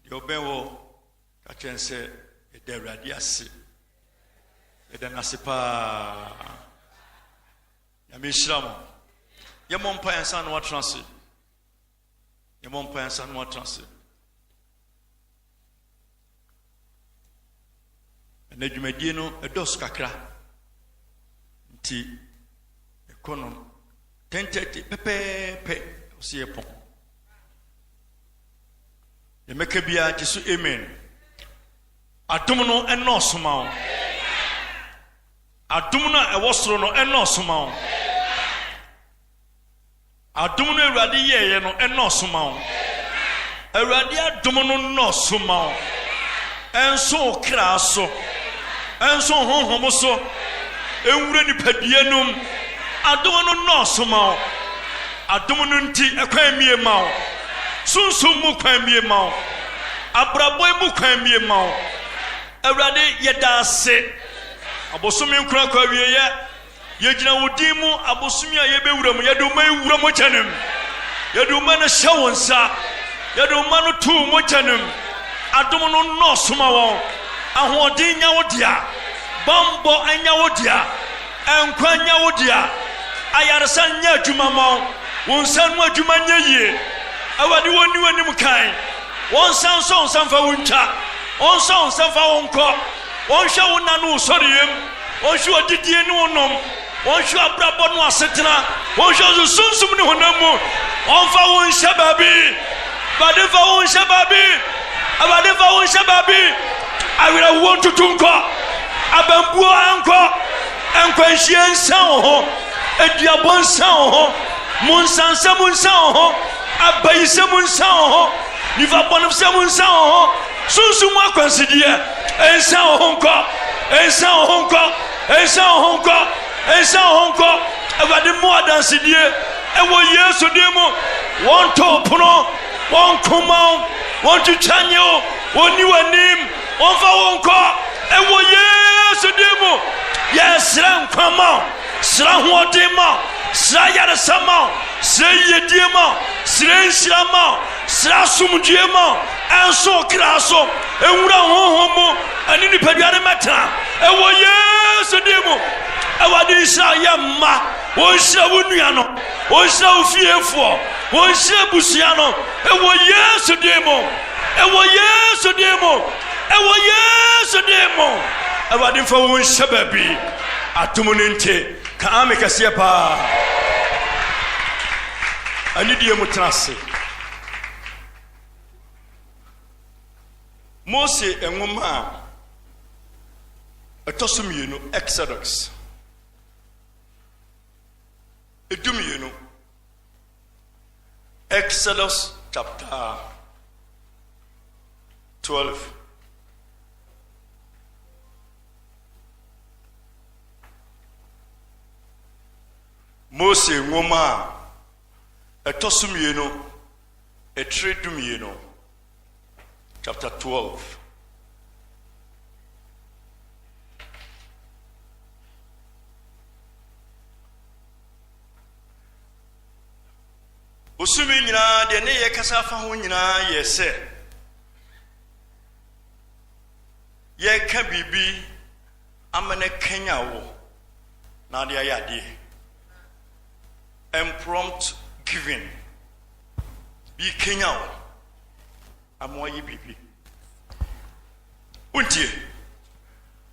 Deɛ ɔbɛn hɔ, ka kyerɛ no sɛ, Yɛda Awurade ase. Yɛda no ase paa. Nyame nhyira mo. Yɛmmɔ mpa yɛn nsa na watena ase. Yɛmmɔ mpa yɛn nsa na watena ase. Na dwumadie no ɛdɔɔso kakra nti ɛkɔ no ten thirty pɛpɛɛpɛ ɔsɛ yɛ pɔn yɛmɛka biara gye so amen adom no ɛnɔɔso ma wo adom no a ɛwɔ soro no ɛnɔɔso ma wo Adom no awurade yɛeɛ no nnɔɔso ma wo. Awurade adom no nnɔɔso ma wo. Ɛnso wo kra so. Ɛnso wo honhom so. Ɛnwura nipadua no mu. Adom no nnɔɔso ma wo. Adom no nti ɛkwan mie ma wo. Sunsum mu kwan mie ma wo. Abrabɔ mu kwan mie ma wo. Awurade yɛda ase. Abosome nkorakora wieɛ. Yɛgyina wo din mu abosome a yɛbɛwura mu, yɛde wo mma yi wura mogya no mu. Yɛde wo mma no hyɛ wo nsa. Yɛde wo mma no to wo mogya no mu. Adom no nnɔɔso ma wɔn. Ahoɔden nya wo dea. Bammɔ anya wo dea. Nkwa nya wo dea. Ayaresa nyɛ adwuma ma wo. Wo nsa ano adwuma nyɛ yie. Awurade, wɔnni w'anim kan. Wɔnsa nsɔ wo nsa mfa wo ntwa. Wɔnsɔ wo nsa mfa wo nkɔ. Wɔnhwɛ wo nna ne wo sɔreyɛm, wɔnhwɛ w'adidie ne wo nom, wɔnhwɛ w'abrabɔ ne w'asetena, wɔnhwɛ wo sunsum ne honam mu, wɔmfa wo nhyɛ baabi. Awurade mfa wo nhyɛ baabi, Awurade mfa wo nhyɛ baabi. Awerɛhoɔ ntutu nkɔ, abambuo nkɔ, nkwanhyia nsa wo ho, aduabɔ nsa wo ho, monsansɛm nsa wo ho, abayisɛm nsa wo ho, nifa bɔnefsɛm nsa wo ho. Sunsum mu akwansideɛ, nsan wo ho nkɔ, nsan wo ho nkɔ, nsan wo ho nkɔ, nsan wo ho nkɔ. Awurade mu adansedie, ɛwɔ Yesu din mu, wɔn to pono, wɔn koma wo, wɔn twitwa nye wo, wɔn ni w'anim, wɔn fa wo nkɔ, ɛwɔ Yesu din mu. Yɛsrɛ nkwa ma wo, srɛ ahoɔden ma wo, srɛ ayaresa ma wo, srɛ yiyedie ma wo, srɛ nhyira ma wo. Srɛ asomdwoeɛ ma ɛnso wo kra so, nwura wo honhom mu, ɛne nipadua no mmɛtena, ɛwɔ Yesu din mu. Awurade nhyira wo yɛ mma, wɔnhyira wo nua no, wɔnhyira wo fiefoɔ, wɔnhyira abusua no, ɛwɔ Yesu din mu, ɛwɔ Yesu din mu, ɛwɔ Yesu din mu. Awurade mfa wo nhyɛ baabi, atom no nte, ka ame kɛseɛ paa. Anidie mu tena ase. Mose nwoma a ɛtɔ so mmienu, Exodus. Edu mmienu. Exodus chapter 12. Mose nwoma a Ɛtɔ so mmienu, Ɛtire dumienu, chapter twelve. Bosome nyinaa deɛ ne yɛ kasa afa ho nyinaa yɛ sɛ yɛka biribi ama no kanya wo na ade ayɛ adeɛ. Impromptu giving bi kenya wo ama woayɛ biribi. Wontie?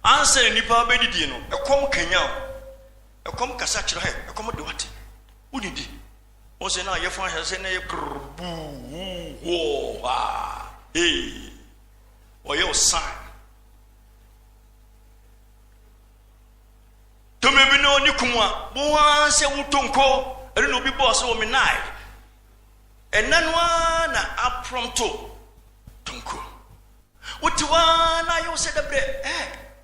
Ansa na nnipa bɛdidie no, ɛkɔm kanya wo. Ɛkɔm kasa kyerɛ hɛ, ɛkɔm de wate. Wonidi. Wo sɛ na yɛfo ahwɛ sɛ na yɛ prr buu wuu hoo haa hee. Ɔyɛ wo sign. Tumi bi ne ɔne kum a wo ara sɛ wo tonko ɛno na obi bɔɔ sɛ wɔ me nae ɛnɛ no ara na aprɔmto tonko wote wo ara na ayɛ wo sɛ dɛ berɛ ɛ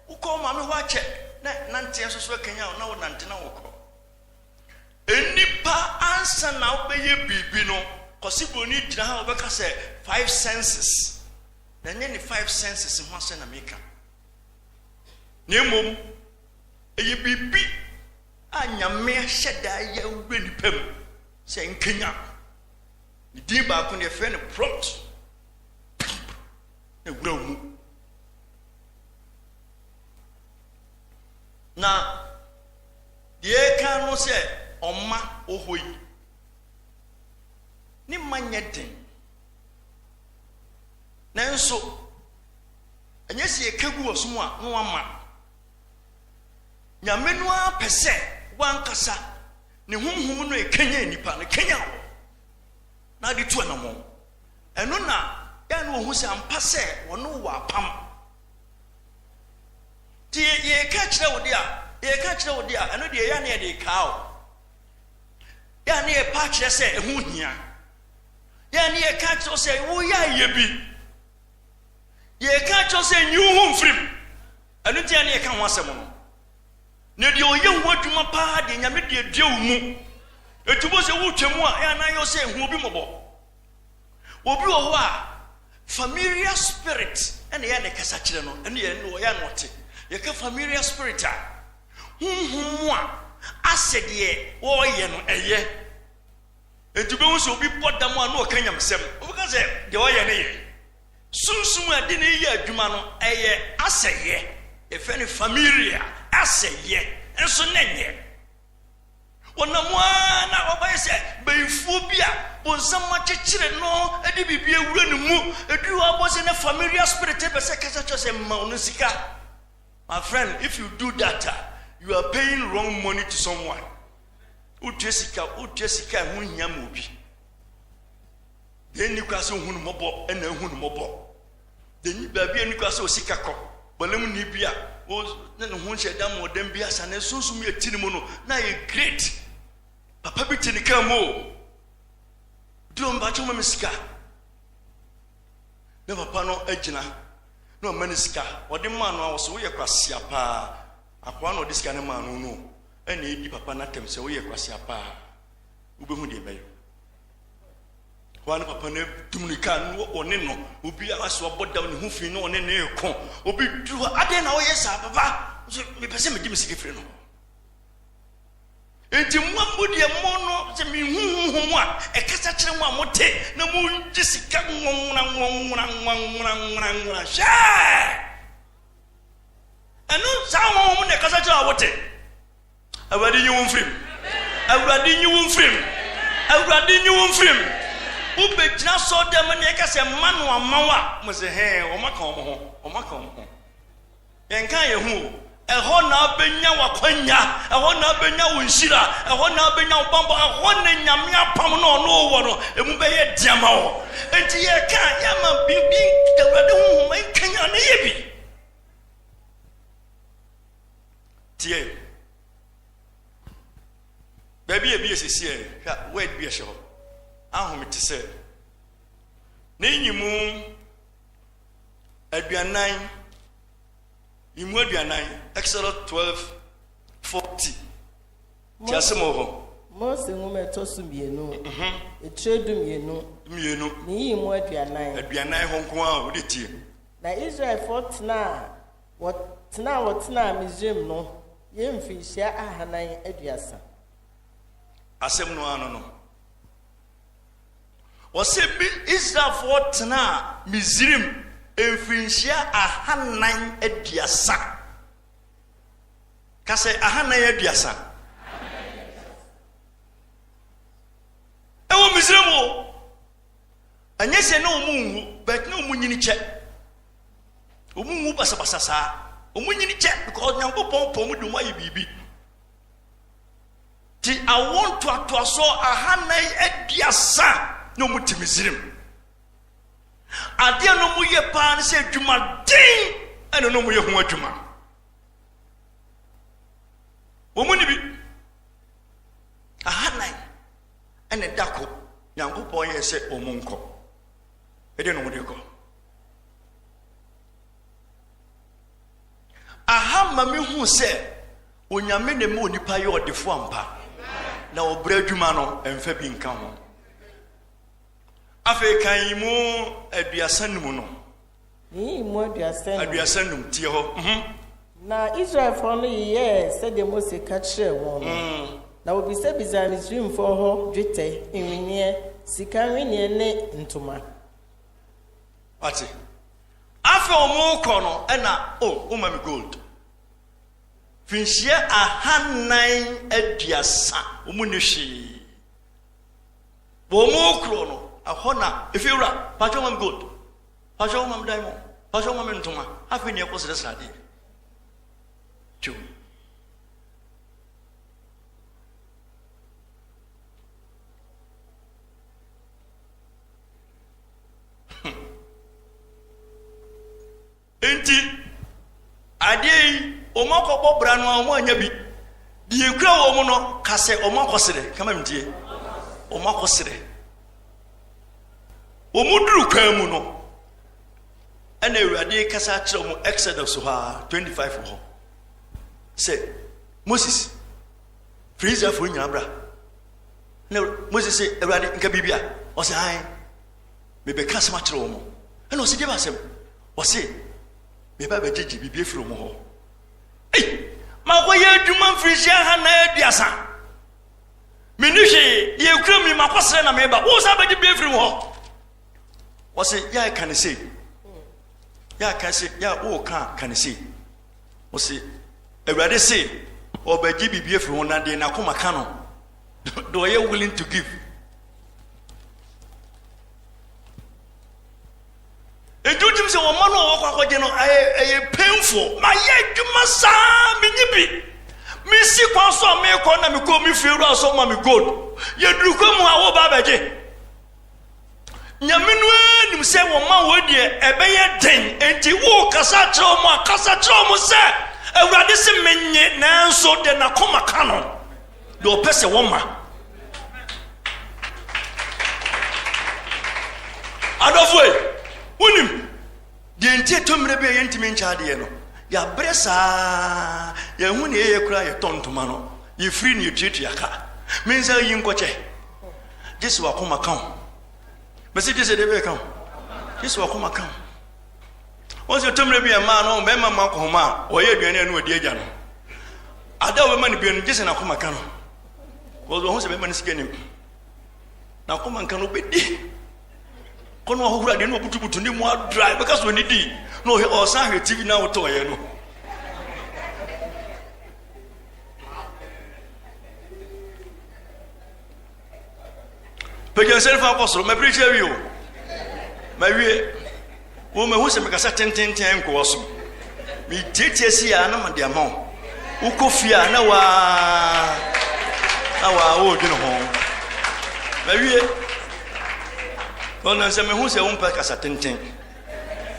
wokɔ wo maame hɔ akyɛ na nanteɛ nso so akanya wo na wo nante na wokɔ nnipa ansa na wobɛyɛ biribi no kɔse buroni gyina ha wobɛka sɛ five senses na ɛnyɛ ne five senses ho asɛ na meka na mmom ɛyɛ biribi a Nyame ahyɛ da yɛ wura nnipa mu sɛ nkanyan. Ne din baako no yɛfrɛ no prompt pump na wura mu. Na deɛ ɛka no sɛ ɔma ɔhɔ yi ne ma nyɛ den nanso Ɛnyɛ sɛ yɛka gu ɔsom a na wama. Nyame no ara pɛ sɛ wankasa ne honhom no ɛkanyan nnipa no kanyan wɔ na de tu anamɔn. Ɛno na yɛa ne wɔhu sɛ ampa sɛ wɔne wɔ apam. Nti yɛka kyerɛ wo de a, yɛka kyerɛ wo de a, ɛno deɛ yɛa ne yɛde kaa o. Yɛa ne yɛpa akyerɛ sɛ ɛho hia. Yɛa ne yɛka kyerɛ wo sɛ woyɛ ayɛ bi. Deɛ yɛka akyerɛ wo sɛ nyi wo ho mfiri mu, ɛno nti a na yɛka ho asɛm no. Na deɛ ɔyɛ ho adwuma paa deɛ, Nyame de adua wo mu. Enti wobɛhu sɛ wotwa mu a, ɛyɛ na ayɛ wo sɛ hu obi mmɔbɔ. Obi wɔ hɔ a, familiar spirit na ɛyɛ na ɛkasa kyerɛ no, ɛne yɛ no ɔyɛ na ɔte. Yɛka familiar spirit a, honhom mu a asɛ deɛ wɔreyɛ no ɛyɛ. Enti wobɛhu sɛ obi bɔ dam a na ɔka nyamesɛm. Wobɛka sɛ deɛ ɔyɛ no yɛ. Sunsum a ɛde no reyɛ adwuma no, ɛyɛ asɛyɛ. Yɛfrɛ no familia, asɛyɛ, nso na ɛnyɛ. Wɔnam ara na wɔbɛyɛ sɛ bayifoɔ bi a bonsam akyekyere no de biribi awura ne mu. Ɛduru hɔ abɔ sɛ na familia spirit pɛ sɛ kasa kyerɛ sɛ mma ɔno sika. My friend, if you do that, you are paying wrong money to someone. Wotua sika, wotua sika a ɛho nhia ma obi. Deɛ nni kwa sɛ ohu no mmɔbɔ na ahu no mmɔbɔ. Deɛ nyi baabi a nni kwa sɛ osika kɔ. Bɔlem ni bi a o ne ne ho nhyɛ dan mu ɔdan bi asa ne sunsum yɛ ti ne mu no na ayɛ great. Papa bi te ne kaa mu o. Di wɔn ba kyɛw ma me sika. Na papa no agyina na ɔma ne sika. Ɔde maa no a ɔsɛ woyɛ kwasia paa. Akoa na ɔde sika no maa no no. na edi papa no atɛm sɛ woyɛ kwaseapa a, wubehu deɛ ɛbɛyɛ wo. Hɔ ara na papa no atu mmirika na ɔne no, obiara so abɔ dam, ne ho fi na ɔne no reko. Obi duru hɔ, adɛn na woyɛ saa papa? Nso mepɛ sɛ mede me sika firi no. Enti mo a modi ɛmo no, sɛ mehu honhom a ɛkasa kyerɛ mo a mote na mogye sika nwonwona nwonwona nwonwona nwonwona nwonwona hwɛ! Ɛno saa honhom no na ɛkasa kyerɛ a wote. Awurade nyi wo mfirim. Awurade nyi wo mfirim. Awurade nyi wo mfirim. Wobɛgyina sɔ dɛm ne ɛka sɛ mma no ama wo a, mo sɛ hɛn wɔaka wɔn ho, wɔaka wɔn ho. Yɛnka yɛn ho o. Ɛhɔ na abɛnya w'akwanya, ɛhɔ na abɛnya wo nhyira, ɛhɔ na abɛnya wo bambɔ, ɛhɔ na nyame apam no ɔno wɔ no, ɛmu bɛyɛ deɛ ma wɔ. Enti yɛreka a, yɛmma biribi nka, Awurade honhom nkanyan ne yɛ bi. Tie. Baabi a ebi yɛ sisi ɛ, hwɛ word bi a ɛhyɛ hɔ. Ahome te sɛ ne nyimu aduanan, nyimu aduanan, Exodus 12, 40. Tease mu hɔ. Mose nwoma ɛtɔ so mmienu. Etire du mmienu. Mmienu. Ne yiyi mu aduanan. Aduanan hɔ nko ara wode tie. Na Israelfoɔ tenaa wɔ tenaa wɔ tenaa Misraim no yɛ mfirihyia ahanan aduasa. Asɛm no ano no. Wɔsɛ bi Israelfoɔ tenaa Misraim mfirinhyia ahanan aduasa. Ka sɛ, Ahanan aduasa. Ɛwɔ Misraim o. Ɛnyɛ sɛ na wɔn nwu, but na wɔn nyini kyɛ. Wɔn nwu basabasa saa. Wɔn nyini kyɛ because Nyankopɔn pɔn mu de wɔn ayɛ biribi. Ti awo ntoatoasoɔ ahanan aduasa na wɔn ti Misraim. Adeɛ a na wɔyɛ paa ne sɛ adwumaden ɛna na wɔyɛ ho adwuma. Wɔn ni bi ahanan ɛna ɛda ko Nyankopɔn yɛ sɛ wɔn nkɔ. Ɛdeɛ na wɔde kɔ. Aha ma me hu sɛ onyame na ɛma onipa yɛ ɔdefo ampa na ɔbrɛ adwuma no ɛmfa bi nka ho. Afei kan yi mu aduasa num no. Yeyii mu aduasa num. Aduasa num, tie hɔ. Mhm. Na Israelfoɔ no yeyɛɛ sɛdeɛ Mose ka kyerɛɛ wɔn no, mm. na wɔbisabisaa Misraimfoɔ hɔ dwetɛ nweneɛ, sika nweneɛ ne ntoma. Wate? Afei wɔkɔ no ɛna, o, oh, woma me gold. Finhyia ahannan aduasa, wɔn ni hwee. Bɔ ɔmo kuro no ɛhɔ na ɛfie wura pakyɛ wo ma me gold pakyɛ wo ma me diamond pakyɛ wo ma me ntoma afei ne ɛkɔ srɛsrɛ adeɛ tiw Enti, adeɛ yi, wɔakɔbɔ bra no ara, wɔannya bi. Deɛ ɛkura wɔn no ka sɛ, wɔakɔsrɛ. Kama mentie. Wɔakɔsrɛ. Wɔduru kwan mu no, ɛna Awurade kasa kyerɛ wɔn Exodus hɔ a, 25 hɔ sɛ, Moses, firi Israelfoɔ nyinaa bra. Na Moses sɛ, Awurade, nka biribi a? Ɔsɛ, ae. mebɛka asɛm akyerɛ wɔn. Ɛna ɔse, deɛ asɛm? Ɔse, meba bɛgyegye biribi afiri wɔn hɔ. Ei, makɔyɛ adwuma mfirinhyia ha na aduasa. Menni hwee, deɛ ekura mi makɔsrɛ na meba. Wo san bɛgye biribi afiri wɔn hɔ. Ɔse, yɛ a ɛka ne sei. Yɛ a ka se, yɛ a woka ka ne sei. Ɔse, Awurade se, ɔbɛgye biribi afiri ho na deɛ n'akoma ka no, deɛ ɔyɛ willing to give. ɛdi wotim sɛ wɔma no ɔwɔ kɔ akɔgye no ɛyɛ painful mayɛ adwuma saa menyi bi mesi kwan so a mekɔ na mekɔ me fie wura so ma me gold yɛduru kwa mu a woba bɛgye nyame no anim sɛ wɔma wɔ deɛ ɛbɛyɛ den enti wokasa kyerɛ mu a kasa kyerɛ mu sɛ awurade se menye nanso deɛ nakoma ka no deɛ ɔpɛ sɛ wɔma adɔfoɔ yi wonim deɛ nti ɛtɔ mmerɛ bi a yɛntumi nkyɛ adeɛ no yɛabrɛ saa yɛhu ne yɛyɛ koraa yɛtɔ ntoma no yɛfiri ne yɛtuatua ka mensa yi nkɔkyɛ gye sɛ wakoma ka ho mɛsɛ gye sɛ deɛ bɛyɛ ka ho gye sɛ wakoma ka ho Wɔn sɛ tɔmmerɛ bi a mmaa no mmarima mma akɔhoma a wɔyɛ aduane a ɛno adi agya no. Ada a wɔbɛma no bia no gye sɛ n'akoma ka no. Wɔn wɔn sɛ bɛma no sika nim. N'akoma nka no bɛdi. Kɔnɔ ahohoro adeɛ na ɔbutubutu ne mu adra bɛka so ne di na ɔhwɛ ɔsan hwɛ TV na ɔtɔ ɔyɛ no. pagya nsɛm fa kɔ soro mapirikyi awie o mawie wo mahu sɛ mekasa tententen nkɔwɔ so metietie si a na mede ama wo wokɔ fie a na waa na waa woredwene ho mawie ɔnam sɛ mehu sɛ wompɛ kasa tenten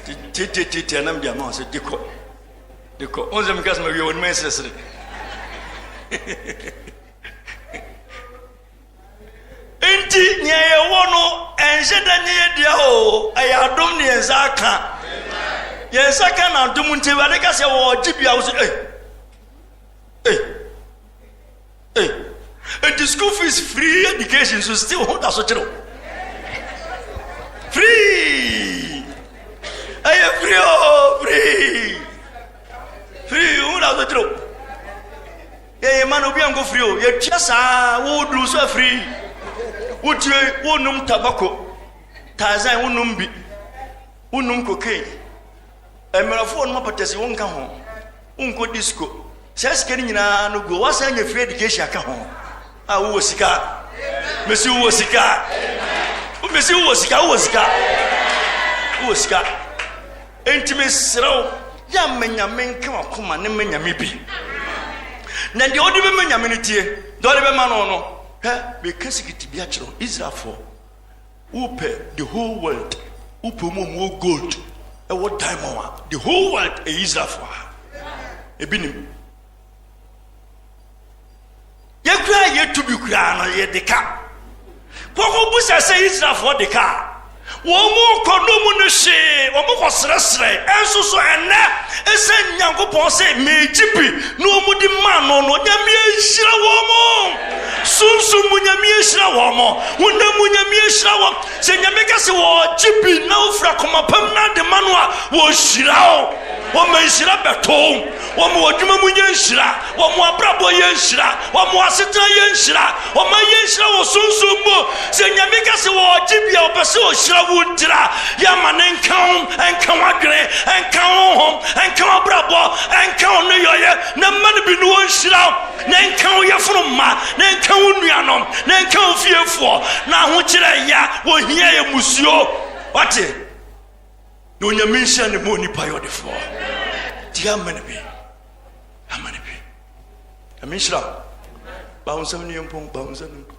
tititititi na mede ama wo sɛ dekɔ dekɔ wo nsɛ mekasa mawie wɔne ma ɛsrɛsrɛ nti nea yɛwɔ no ɛnhyɛ da nyɛ yɛ dea o ɛyɛ adom ne yɛn nsa aka yɛn nsa ka na adom nti awurade ka sɛ wɔgye bia wo sɛ ei ei ei nti school fees free education so still ho da so kyerɛ free ɛyɛ free o free free ho da so kyerɛ Deɛ yɛ mma no obi ankɔ firi o yɛtua saa wo duru so afiri wotue wonum tabako tarzan wonum bi wonum cocaine mmerɛfoɔ nom apatasi wonka ho wonkɔ disco saa sika no nyinaa no guo woasan nya free education aka ho a wowɔ sika mesi wowɔ sika mesi wowɔ sika wowɔ sika wowɔ sika Enti mesrɛ wo, yɛ ma Nyame nka w'akoma ne ma Nyame bi. Na deɛ wode bɛma Nyame no tie, deɛ wode bɛma no no. Hwɛ, meka sikiti bi akyerɛ wo, Israelfoɔ, wopɛ the whole world, wopɛ mu ɔmu wɔ gold, ɛwɔ diamond a, the whole world ɛyɛ Israelfoɔ a. Ebi nim. yɛ koraa yɛtu bi koraa no yɛde ka kɔkɔ busa sɛ israelfoɔ de ka wɔn mu kɔ no mu no hwee wɔn kɔ serɛserɛ ɛnso so ɛnɛ ɛsɛ nyankopɔn sɛ meegye bi na wɔn de maa no no nyame ahyira wɔn mo sunsum mu nyame ahyira wɔn mo honam mu nyame ahyira wɔn sɛ nyame ka sɛ wɔgye bi na wofira kɔmapam na de ma no a wɔhyira o wɔma nhyira bɛtoo Wɔn adwuma mu yɛ nhyira. Wɔn abrabɔ yɛ nhyira. Wɔn asetena yɛ nhyira. Wɔn ayɛ nhyira wɔ sunsum mu. Sɛ Nyame ka sɛ ɔgye bi a, ɔpɛ sɛ ɔhyira wo ntira. Yɛ ama no nka wo, nka w'adwene, nka wo honhom, nka w'abrabɔ, nka wo nneyɔeɛ, na mma no bi na ɔnhyira wo, na nka wo yɛfunu mma, na nka wo nuanom, na nka wo fiefoɔ, na ahokyerɛ ya, wɔhia yɛ musuo. Wate? Na onyame nhyɛ ne ma onipa yɛ ɔdefoɔ nti ama no bi ama no bi nyame nhyira bawo nsɛm no yɛ mpɔn bawo nsɛm no mpɔn